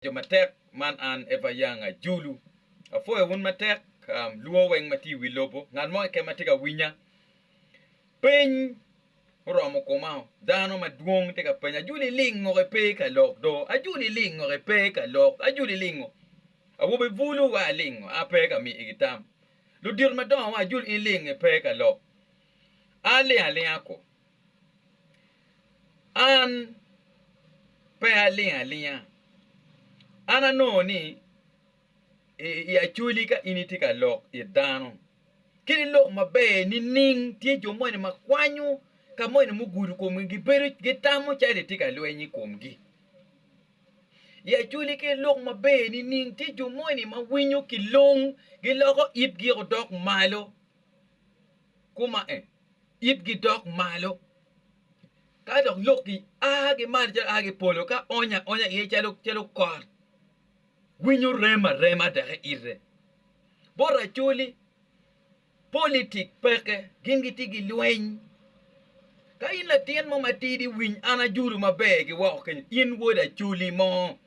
Jo matek man an Eva Young ajulu. Apwoyo wun matek luwo weng ma tye i wi lobo. Ngat mo keken ma tye ka winya. Peny oromo koma o. Dano madwong tye ka penya ajulu ilingo ipe ka lok do? Ajulu ilingo ipe ka lok? Ajulu ilingo? Awobe bulu wa alingo a pe ka miyigi tam. Ludito madongo wa ajulu in ilingo ipe ka lok? A ling alinga ko. An pe aling alinga, an anongo ni i acwali ka in itye ka lok it dano kadi lok maber nining tye jo moni ma kwanyo ka moni mugudo komgi gibedo gitamo calo itye ka lweny i komgi i acwali ka ilok maber nining tye jo moni ma winyo kilong giloko itgi odok malo koma en. itgi dok malo, ka dok lok gi a gi malo calo a ki i polo, ka onyo aonya iye calo kot, winyo rem arema dok eite. Bot racoli, politic peke, gin gitye ki lweny. Ka in latin mo matidi, winy an ajolo maber ki woko kenyo, in wod acoli mo,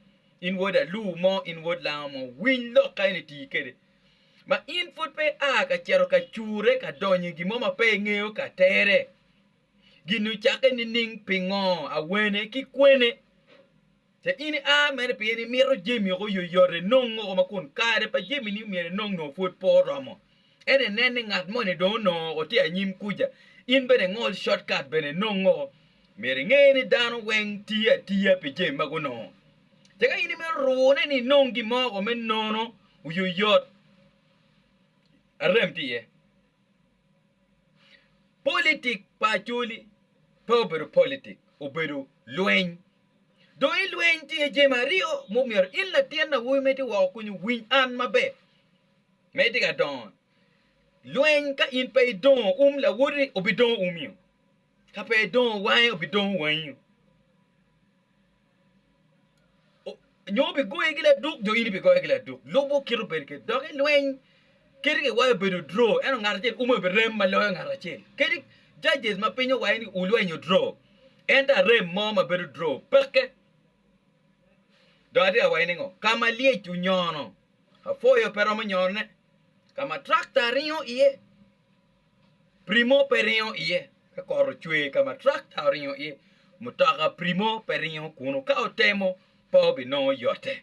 in wod aluo mo, in wod lango mo, winy lok ka en iti kwede. ma in pud pe ia ka cito ka cure ka donyo i gin mo ma pe ingeyo ka tere. Gin ocakke nining? Pingo? Awene? Ki kwene? Ca in ia mene pien imito jami woko oyoyot inong woko ma kun kare pa jami ni myero inong nongo pud pe oromo. Ento inen ni ngat moni dong onongo woko tye anyim kuca, in bene ingol shortcut bene inong woko. Myero inge ni dano weng tiyo atiya pi jami ma gunongo. Ca ka in imito rune ni inong gin mo woko me nono, Oyoyot arem tye iye. Politik pa Acholi pe obedo politik, obedo lweny. Dong i lweny tye jami aryo ma omyero in latin awobi ma itye woko kwica owiny an maber ma itye ka dongo ni, lweny ka in pe idongo um lawoti obidongo umio, ka pe idongo wange obidongo wangio. nyo bigoyi ki laduk nyo in ibigoye ki laduk lubo kit obedo kwede dok i lweny kadi kiwaco obedo draw ento ngat acel ume birem ma loyo ngat acel kadi judges ma piny owaco ni ulwenyo draw ento arem mo ma bedo draw peke dong atye ka waci ni ngo ka ma lyec onyono apwoyo pe romo nyone ka ma tractor ringo iye Primo pe ringo iye ka kot ocwer ka ma trakta oringo iye. Mutoka primo pe ringo kunu ka otemo pe obinongo yote.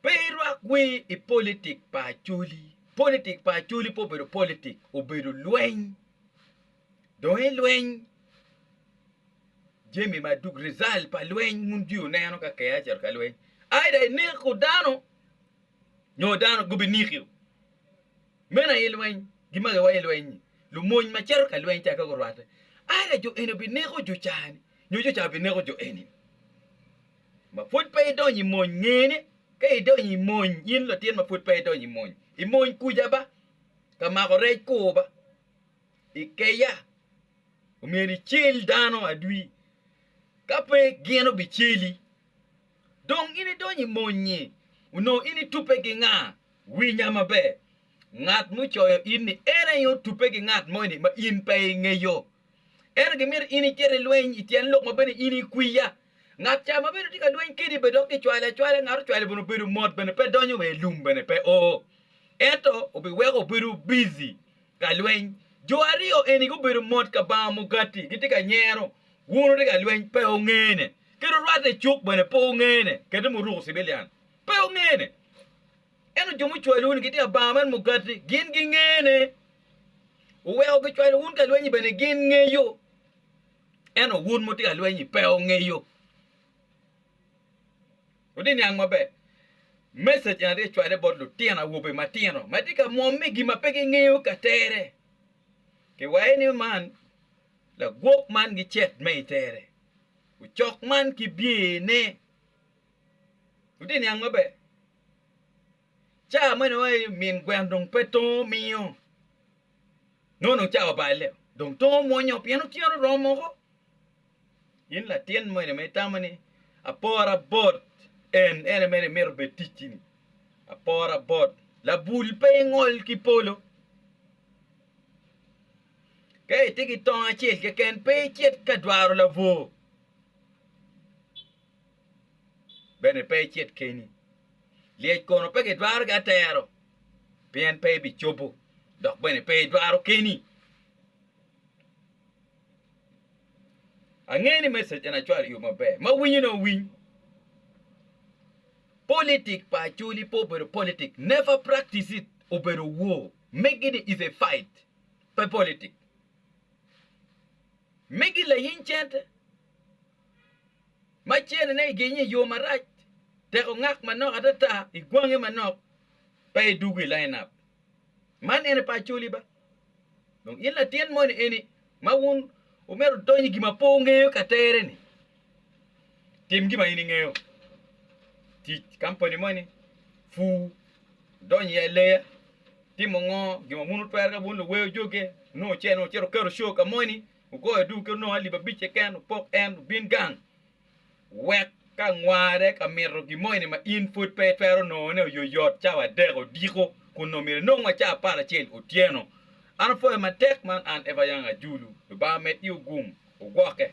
Pe irwak wir i politik pa Acholi. Politik pa Acholi pe obedo politik, obedo lweny. Dong i lweny, jami ma duk result pa lweny wun jwi wuneno ka KIA ocito ka lweny either ineko dano nyo dano gubinekiu. Meno aye lweny, gimage wa i lweny-nyi. Lumony ma cito ka lweny tek ka gurwatte, ada jo eni bineko jo ca-ni, nyo jo ca bineko jo eni-ni. Ma pwod pe idonyo i mony, nge ni, ka idonyo i mony, in latin ma pwod pe idonyo i mony, i mony kuca ba, ka mako rec kur ba, i keya, omyero icel dano adwi, ka pe gino biceli. Dong in idonyo i mony-nyi, onongo in itubbe ki nga? Winya maber, ngat mucoyo in ni en aye otubbe ki ngat moni ma in pe ingeyo. Ento gimito in icit i lweny i tyen lok ma bene in ikwiya. Ngat ca ma bene tye ka lweny kedi bene dok kicwale acwala, ngat ocwale bene obedo mot bene pe donyo wa i lum bene pe oo. Ento obiweko obedo bizi ka lweny. Jo aryo eni gubedo mot kabanga mugati, gitye ka nyero. Wun wutye ka lweny, pe wungene. Kit orwatte cuk bene pe wungene, kadi muruko civilian. Pe wungene. Ento jo mucwalo wun gitye abanga man mugati, gin gingene. Wuweko gicwalo wun ka lwenyi bene gin ngeyo, ento wun mutye ka lwenyi pe wungeyo. Wutye niang maber. Message eni atye cwale bot lutino awobe matino ma tye ka mwom me gin ma pe gingeyo ka tere. Kiwaye ni man lagwok man gicet me itere. Ocok man kibyene. Wutye i niang maber. Cawa meno aye min gwen dong pe tongo miyo nongo dong cawa pa aleo dong tongo mwonyo pien otyeno oromo woko. In latin moni ma itamo ni apora bot en ene mere imito bed ticci ni apora bot labul pe ingol ki polo ka itye ki tongo acel keken pe icit ka dwaro labwor. bene pe icit keni. Lyec kono pe gidwaro ki atero, pien pe ibicobo, dok bene pe idwaro keni. Angeyo ni message eni acwalo i yo maber. Ma winyo ni owiny. Politic pa Acholi pe obedo politic, never practice it, obedo war. Megi ni is a fight, pe politic. Megi lainy cente. Macene-ne, i genye i yo marac, tek ongak manok atata i gwange manok pa i dugu i lineup. Man ene pa Acholi ba? Dong in latin moni eni ma wun wumito wudony i gin ma pe wungeyo ka tere-ni? Tim gin ma in ingeyo. Tic kampani moni, pur, wudony i aleya, timo ngo, gin ma wun wutwero ka wun luweyo joge, nongo wucito wuketo show ka moni. Wugoyo adungu kit onongo alip abic keken, wupok en obin gang. Wek ka ngware ka mito gin mo eni ma in pud pe itwero nongone oyoyot cawa adek odiko, kun onongo myero inong wa cawa apar acel otyeno. An apwoyo matek man an Eva Yang Ajulu. Lubanga med i ogum, wugwokke.